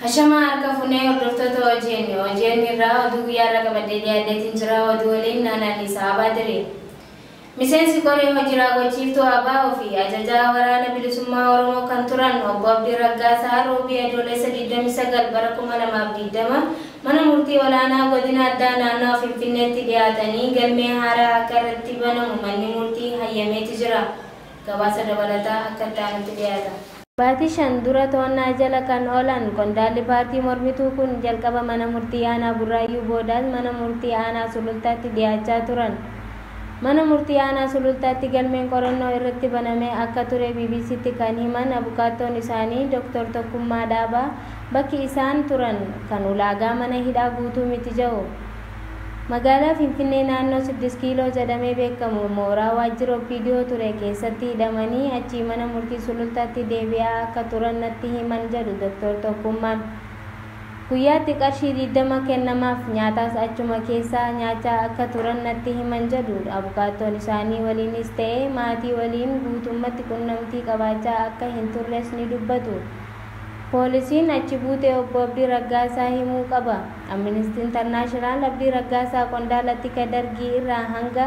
Hashamaa harka funee hordoftoota OGN OGN irraa oduu guyyaa irra qabadee dhiyaateetiin jira oduu waliin naanaan isaa abaa diree. Miseensi Koree Hoji Raawwachiiftuu abo fi Ajajaa Waraana Bilisummaa Oromoo kan turan Obbo Abdii Raggaasaa Roobii Adoolessa 29 bara 2020 Mana Murtii Olaanaa Godina Addaa Naannawa Finfinneetti dhiyaatanii galmee haaraa akka irratti banamu manni murtii hayyameeti jira. Gabaasa dabalataa akka itti aanutti dhiyaata. Baatii shan dura to'annaa jala kan oolan qondaalli paartii mormituu kun jalqaba mana murtii aanaa Burraayyuu boodaas mana murtii aanaa Sulultaatti dhiyaachaa turan. Mana murtii aanaa Sulultaatti galmeen qorannoo irratti banamee akka ture BBC'tti kan himan abukaattoon isaanii Doktor Tokkummaa Dhaabaa bakki isaan turan kan ulaagaa mana hidhaa guutuu miti jedhu. Magaalaa Finfinnee naannoo Siddis Kiiloo jedhamee beekamu mooraa waajjira Opdo ture keessatti hidhamanii achii mana murtii Sulultaatti deebi'aa akka turan natti himan jedhu Doktor Tokkummaan. Guyyaatti qarshii 20 kennamaaf, nyaataas achuma keessaa nyaachaa akka turan natti himan jedhu abukaattoon isaanii waliinis ta'e maatii waliin guutummatti qunnamtii qabaachaa akka hin turres ni dubbatu. Poolisiin achi buutee Obbo Abdii Raggaasaa himuu qaba. Aministi Internaashinaal Abdii Raggaasaa qondaala tika Dargii irraa hanga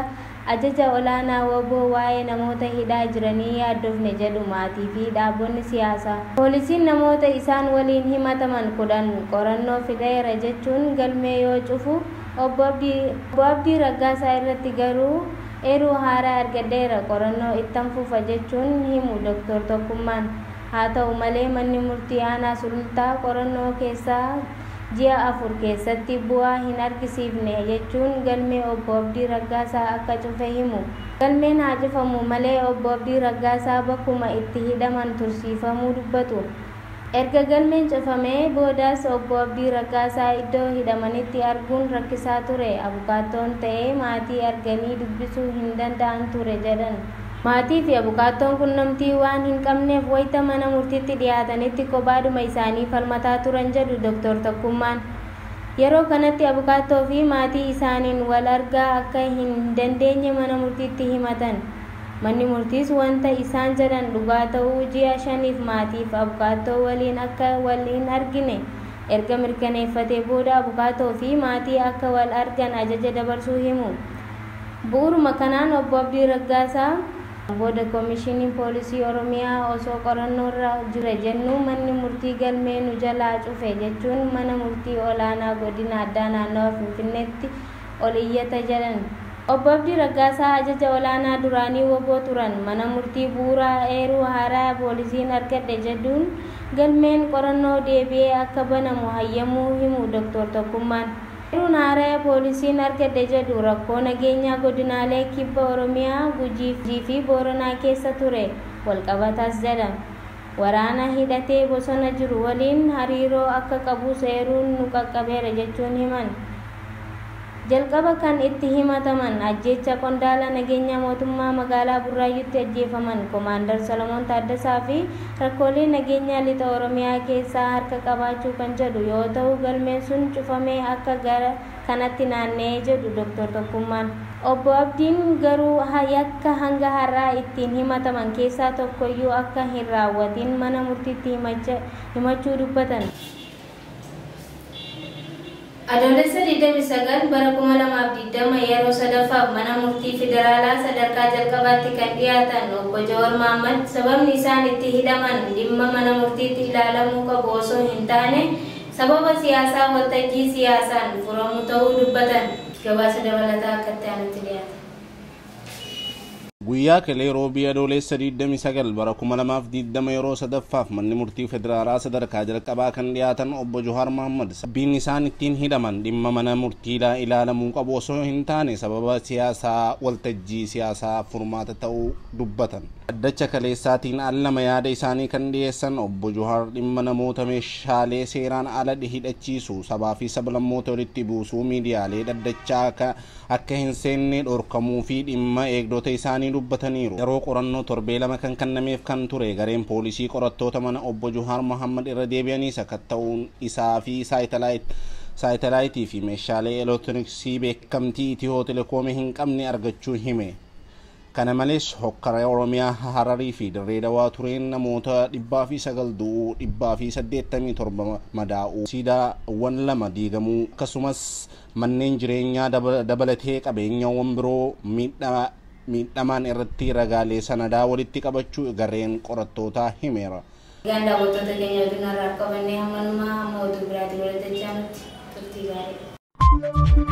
ajaja olaanaa wbo waa'ee namoota hidhaa jiranii yaaddofne jedhu maatii fi dhaabonni siyaasaa. Poolisiin namoota isaan waliin himataman 10 qorannoo fixeera jechuun galmee yoo cufu Obbo Abdii Raggaasaa irratti garuu eeruu haaraa argadheera qorannoo ittan fufa jechuun himu Dr. Tokkummaan. Haa ta'u malee manni murtii aanaa Sulultaa qorannoo keessaa. ji'a afur keessatti bu'aa hin argisiifne jechuun galmee Obbo Abdii Raggaasaa akka cufe himu. Galmeen haa cufamu malee Obbo Abdii Raggaasaa bakkuma itti hidhaman tursiifamuu dubbatu. Erga galmeen cufamee boodas Obbo Abdii Raggaasaa iddoo hidhamanitti arguun rakkisaa ture, abukaattoon ta'ee maatii arganii dubbisuu hin danda'an ture jedhan. Maatii fi abukaattoon qunnamtii waan hin qabneef wayita mana murtiitti dhiyaatanitti kophaadhuma isaanii falmataa turan jedhu Doktar Tokkummaan. Yeroo kanatti abukaattoo fi maatii isaaniin wal argaa akka hin dandeenye mana murtiitti himatan. Manni murtiis wanta isaan jedhan dhugaa ta'uu ji'a shaniif maatii fi abukaattoo waliin akka wal hin argine erga mirkaneeffatee booda abukaatoo fi maatii akka wal argan ajaja dabarsuu himu. Bu'uuruma kanaan Obbo Abdii Raggaasaa booda Komishiniin Poolisii Oromiyaa osoo qorannoorra jira jennuu manni murtii galmee nu jalaa cufe jechuun mana murtii olaanaa godina addaa naannawa Finfinneetti ol iyyata jedhan. Obbo Abdii Raggaasaa ajaja olaanaa duraanii wbo turan mana murtii bu'uuraa eeruu haaraya poolisiin argadhe jedhuun galmeen qorannoo deebi'ee akka banamu hayyamuu himu Doktor Tokkummaan. Eeruun haaraya poolisiin argadhe jedhu rakkoo nageenyaa godinaalee Kibba Oromiyaa, Gujii fi Booranaa keessa ture walqabatas jedha. Waraana hidhatee bosona jiru waliin hariiroo akka qabus eeruun nu qaqqabeera jechuun himan. Jalqaba kan itti himataman ajjeechaa qondaala nageenyaa mootummaa magaalaa Burraayyuutti ajjeefaman Komaandar Solomoon Taaddasaa fi Rakkoolee nageenyaa Lixa Oromiyaa keessaa harka qabaachuu kan jedhu yoo ta'u galmeen sun cufamee akka gara kanatti naanna'e jedhu Doktar Tokkummaan. Obbo Abdiin garuu yakka hanga har'aa ittiin himataman keessaa tokkoyyuu akka hin raawwatiin mana murtiitti himachuu dubbatan. Adoolessa 29 bara 2020 yeroo sadaffaaf mana murtii federaalaa sadarkaa jalqabaatti kan dhiyaatan Obbo Jawar Mahaammad sababni isaan itti hidhaman dhimma mana murtiitti ilaalamuu qabu osoo hin taane sababa siyaasaa waltajjii siyaasaan furamu ta'uu dubbatan. Gabaasa dabalataa akka itti aanutti dhiyaata. Guyyaa kelee Roobii Adooleessa 29 bara 2020 yeroo sadaffaaf Manni Murtii Federaalaa sadarkaa jalqabaa kan dhiyaatan Obbo Johaar Mahaammad sababbiin isaan ittiin hidhaman dhimma mana murtiidhaa ilaalamuu qabu osoo hin taane sababa siyaasaa waltajjii siyaasaa furmaata ta'uu dubbatan. Dhaddacha kaleessaatiin al lama yaada isaanii kan dhiyeessan Obbo Johaar dhimma namoota meeshaalee seeraan ala hidhachiisuu, sabaa fi sablammoota walitti buusuu miidiyaalee dhaddachaa akka akka hin seenne dhorkamuu fi dhimma eegdota isaanii dubbataniiru. Yeroo qorannoo torbee lama kan kannameef kan ture gareen poolisii qorattoota mana obbo Juhaar Mohaammad irra deebi'anii sakatta'uun isaa fi saayitalaayit, saayitalaayitii fi meeshaalee elektirooniksii beekamtii Itihoo Telekoomii hin qabne argachuu hime. Kana malees hokkara Oromiyaa Hararii fi Dirree Dawaa tureen namoota 109 du'uu, 187 madaa'uu, siidaawwan lama diigamuu akkasumas manneen jireenyaa dabalatee qabeenyawwan biroo miidhamaan irratti ragaalee sanadaa walitti qabachuu gareen qorattootaa himeera. Egaan daawwattoota keenya oduun har'aaf qabannee hammanumaa hamma oduu biraatiin wal dachaanutti turtii gaarii.